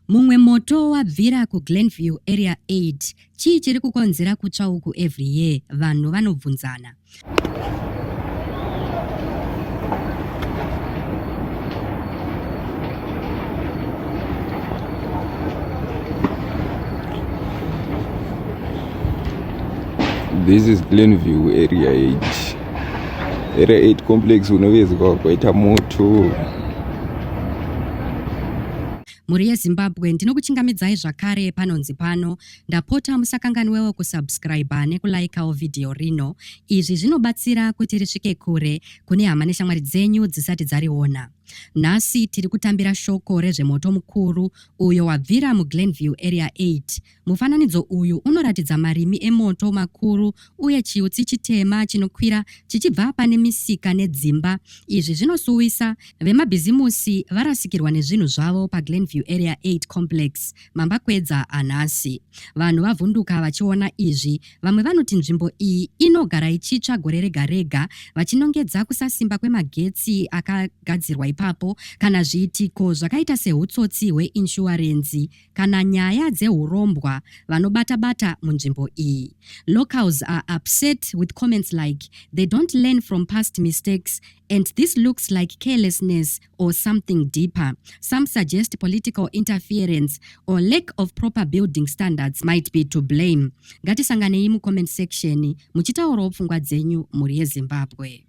Mumwe moto wabvira kuGlenview Area 8. Chii chiri kukonzera kutsva uku every year? Vanhu vanobvunzana. This is Glenview Area 8. area 8 complex unovezwa kwaita moto mhuri yezimbabwe ndinokuchingamidzai zvakare panonzi pano ndapota musakanganwewo kusubscriba nekulaikawo vhidhiyo rino izvi zvinobatsira kuti risvike kure kune hama neshamwari dzenyu dzisati dzariona nhasi tiri kutambira shoko rezvemoto mukuru uyo wabvira muglenview area 8 Mufananidzo uyu unoratidza marimi emoto makuru uye chiutsi chitema chinokwira chichibva pane misika nedzimba. Izvi zvinosuwisa vemabhizimusi varasikirwa nezvinhu zvavo paGlenview Area 8 Complex, mambakwedza anhasi. Vanhu vavhunduka vachiona izvi. Vamwe vanoti nzvimbo iyi inogara ichitsva gore rega rega vachinongedza kusasimba kwemagetsi akagadzirwa ipapo kana zviitiko zvakaita sehutsotsi hweinshuwarenzi kana nyaya dzehurombwa vanobata bata munzvimbo iyi. Locals are upset with comments like they don't learn from past mistakes and this looks like carelessness or something deeper. Some suggest political interference or lack of proper building standards might be to blame. Ngatisanganei mucomment section muchitaurawo pfungwa dzenyu mhuri yeZimbabwe.